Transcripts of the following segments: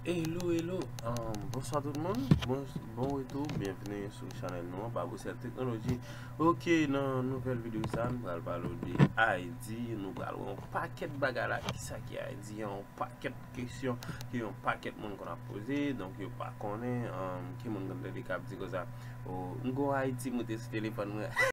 Hello hello Bonswa tout moun Bon retou Byenvni sou chanèl nou an Babocel Technology Ok nan nouvèl videyo sa Nou pral pale ou de ID Nou pral wè yon pakèt bagay la Ki sa ki ID Yon pakèt kesyon Ke yon pakèt moun konn ap poze Donk yo pa konnen Ki moun konn tande kap di konsa Ou m gon ID m rete sou telefòn mwen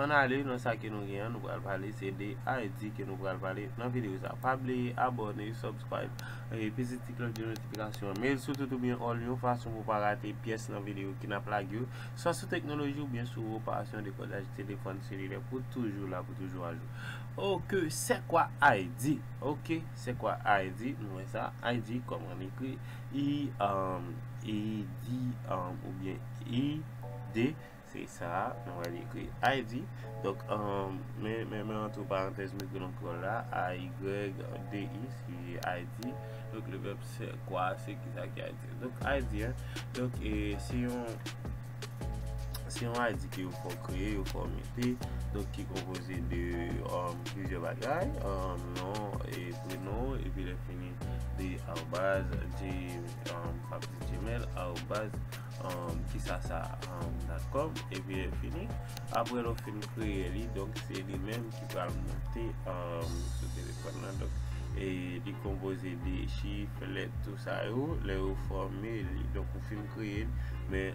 An ale nan sa ke nou gen an, nou pral pale se de ID ke nou pral pale nan videyo sa. Pa bliye abone, subscribe, e peze ti klòch de notifikasyon. Mete l sou tout ou byen all yon fason pou pa rate pyès nan videyo ki nap lage yo. Swa sou teknoloji ou byen sou reparasyon dekodaj telefòn selilè pou toujou la. toujou ajou ok sè kwa ay di ok sè kwa ay di nou wè sa ay di kòman li ekri i um e di um oubyen i de se sa nou wè li ekri ay di donk um men men men antre parantèz nou ekri lank kreyòl la a y de i se ay di donk le vèb sè kwa se ki sa ki ay di donk ay di donk e se yon Se yon ID ke yo fò kreye, yo fò mete, donk ki konpoze de plizyè bagay, non, e prenon, e pi lè fini de arobase, di, pap di gmail, arobase, kisa sa, dot com, e pi lè fini. Apre lè ou fin kreye li, donk se li menm pral monte sou telefòn nan donk li konpoze de chif, lèt tout sa yo lè yo fòme li donk ou fin kreye l men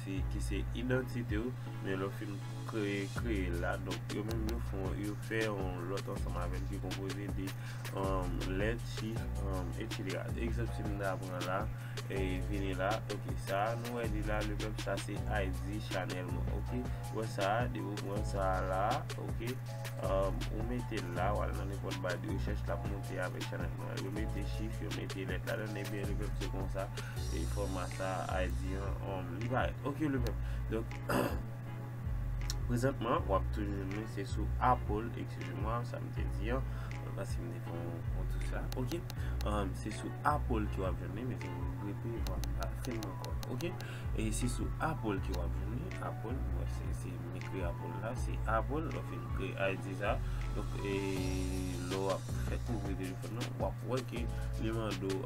se ki se idantite ou men lè ou fin kreye kreye l la donk yo menm yo fon yo fè yon lòt ansanm avè l ki konpoze de lèt chif etsetera egzanp si m ta pran la. Vini la ok sa nou wè li la lepèp sa se IG chanèl mwen ok ou wè sa depi ou pran sa la ok ou metel la wal nan nenpòt ba de rechèch lap monte avèk chanèl mwen yo mete chif yo mete lèt ladann ebyen lepèp se konsa fòma sa IG an li parèt ok lepèp donk prezantman wap toujou jwenn mwen se sou Apple ekskize mwa sa mte di an paske mte Pou tout sa ok Se sou apple ke wap jwenn li Mezanmi m repe vwam pa fèm ankò ok E se sou apple ke wap jwenn li Apple m wè se se m ekri apple la Se apple lè w fin kreye ID sa Donk e lè wap fè kouvri telefòn nan wap wè ke li mande w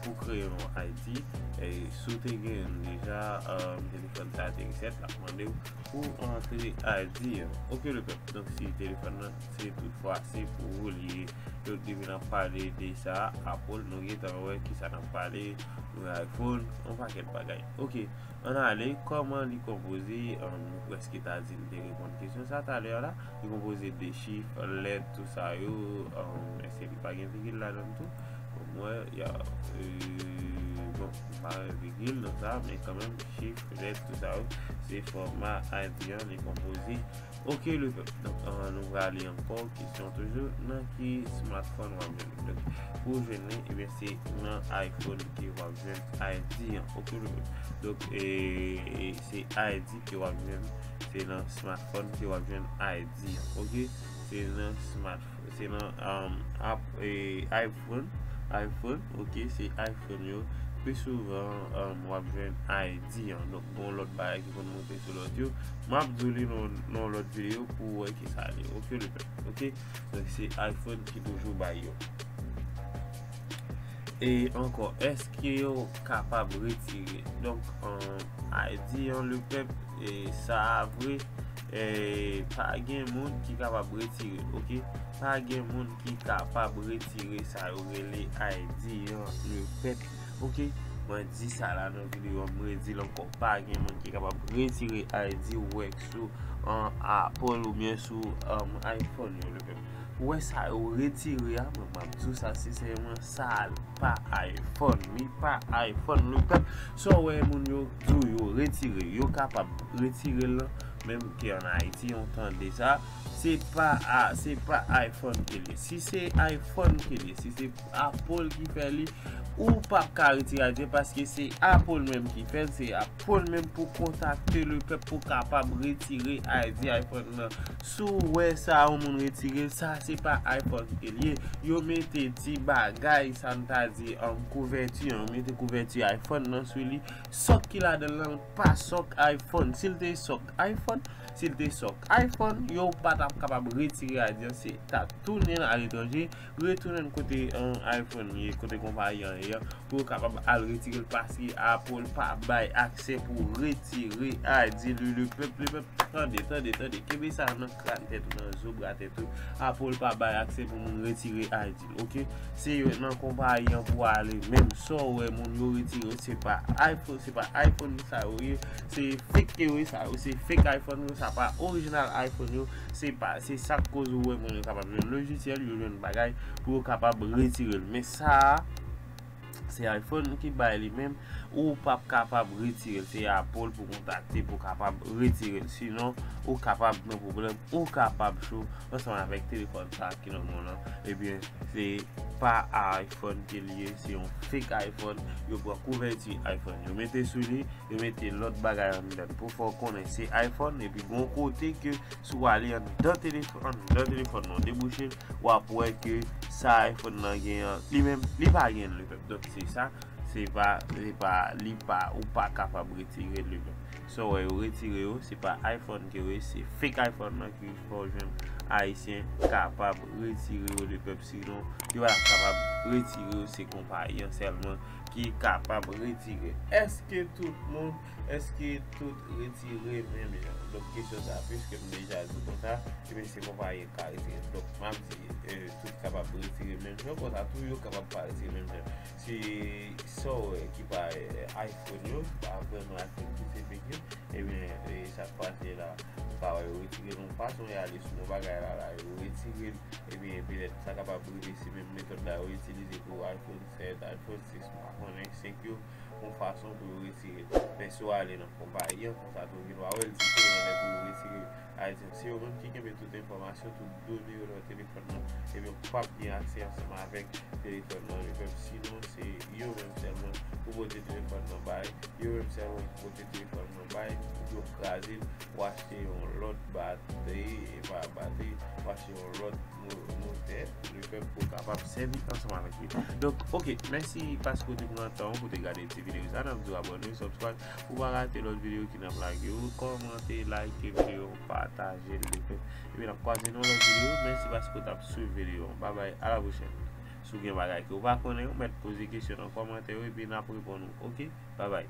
pou kreye yon ID E si w te genyen l deja Telefòn sa te resèt lap mande w pou antre ID an Ok le pèp Donk si telefòn nan Se tout fwa se pou ou li ye. Yo te vin ap pale de sa, Apple nou gentan wè kisa nap pale, yon iPhone, yon pakèt bagay. Ok, ann ale, kòman li konpoze, nou prèske ta di nou te reponn kesyon sa talè a la, li konpoze de chif, lèt, tou sa yo, eske li pa gen vigil ladann tou? Bon mwen, ya, eee, bon, m pa wè vigil nan sa, men kanmenm chif, lèt, tou sa yo, se fòma ADN li konpoze. Ok le pèp donk nou prale ankò kesyon toujou nan ki smartphone wap jwenn li donk pou ou jwenn li ebyen se nan iphone ke wap jwenn ID an ok le pèp donk ee se ID ke wap jwenn se nan smartphone ke wap jwenn ID an ok se nan smartphone. Se nan iPhone, iPhone, ok, se iPhone yo, pi souvan w ap jwenn ID an. Donk, bon lòt bagay ki konn monte sou lòt yo. M ap di w li nan lòt videyo pou w wè ki sa li ye. Ok, le pèp. Ok, donk se iPhone ki toujou bay yo. E ankò, eske yo kapab retire? Donk, ID an, le pèp, e sa a vre. Pa gen moun ki kapab retire ok. Pa gen moun ki kapab retire sa yo rele ID an le pèp ok. Mwen di sa la nan video an, m redi l ankò. Pa gen moun ki kapab retire ID ou wè k sou Apple ou byen sou iPhone yo le pèp. Ou wè sa yo retire a, mwen m ap di w sa sensèman. Sa pa iPhone, li pa iPhone le pèp. Sa w wè moun yo di w yo retire, yo kapab retire l menm ki an Ayiti yon tan de sa. Se pa a, se pa iPhone ki li. Si se iPhone ki li, si se Apple ki fè li, ou pa ka retire a di paske se Apple menm ki fè l, se Apple menm pou kontakte le pèp pou kapab retire a di iPhone nan. Si w wè sa yon moun retire l, sa se pa iPod ke l ye. Yo mete ti bagay sa m ta di kouvèti an, yo mete kouvèti iPhone nan sou li. Sòk ki ladan l lan l pa sòk iPhone. Si l te sòk iPhone, si l te sòk iPhone, yo pa t ap kapab retire a di an se ta tounen aletranje. Retounen kote iPhone ye, kote konpayi an ye an, pou yo kapab al retire l paske Apple pa bay aksè pou w retire ID li lepèp lepèp tande tande tande kenbe sa nan kran tèt ou nan zo bra tèt ou Apple pa bay aksè pou moun retire ID l ok se yo nan konpayi an pou w ale menm sa w wè moun yo retire yo se pa iPhone se pa iPhone sa yo ye se fake yo ye sa yo se fake iPhone yo sa pa orijinal iPhone yo. Se pa, se sa k koz ou wè moun yo kapab jwenn lojisyèl, yo jwenn bagay pou yo kapab retire l. Men sa a, se iPhone ki bay li menm, ou pa p kapab retire l. Se Apple pou kontakte pou kapab retire l. Sinon, ou kapab gen pwoblèm, ou kapab cho ansanm avèk telefòn sa ki nan men w lan. Ebyen, se pa iPhone ke li ye, se yon fake iPhone. Yo pran kouvèti iPhone yo mete sou li, Yo mete lòt bagay anndan pou fè w konnen se iPhone epi gon kote ke si w ale anndan telefòn nan w debouche l w ap wè ke sa iPhone nan gen an li menm li pa gen li menm donk se sa se pa se pa li pa ou pa kapab retire li menm sa w wè yo retire yo se pa iPhone ke yo ye se fake iPhone nan ki fè w jwenn ayisyen kapab retire yo li menm sinon yo pa kapab retire yo se konpayi an sèlman. ki kapab retire eske tout moun eske tout retire menm jan donk kesyon sa piske m deja di konsa ebyen se konpayi ki ka retire donk m ap di tout kapab retire menm jan konsa tou yo kapab pa retire menm jan si sa w wè ki pa iphone yo ki pa vreman iphone ki se fek yo ebyen e sa k pase la ou ka wè yo retire l yon fason y ale sou yon bagay la la yo retire l ebyen petèt sa kapab rive se menm metòd la yo itilize pou iphone fè eta de kòz sis mwa konnen se k yo yon fason pou yo retire men si w ale nan konpayi an konsa tou vin w a wè l diferan lè pou yo retire ayiti an se yo menm ki kenbe tout enfòmasyon tout done yo nan telefòn nan ebyen ou pap gen aksè ansanm avèk telefòn nan yo menm sinon se yo menm sèlman pou pote telefòn nan bay yo menm sèlman pou pote telefòn nan bay pou yo kraze l w achte yon lòt batri epa batri w achte yon lòt nou fè, le fè pou kapab sèvi ansanm avèk li. Donk, ok, mèsi paske ou te pran tan ou pou te gade ti videyo sa. Nap di ou abòne, subscribe pou pa rate lòt videyo ki nap lage yo. Kòmante, like videyo, pataje l, le fè. Epi nap kwaze nan yon lòt videyo. Mèsi paske ou tap swiv videyo an. Babay, a la pwochèn. Si ou gen bagay ke ou pa konnen, ou mèt poze kesyon nan kòmantè yo epi nap reponn ou. Ok, babay.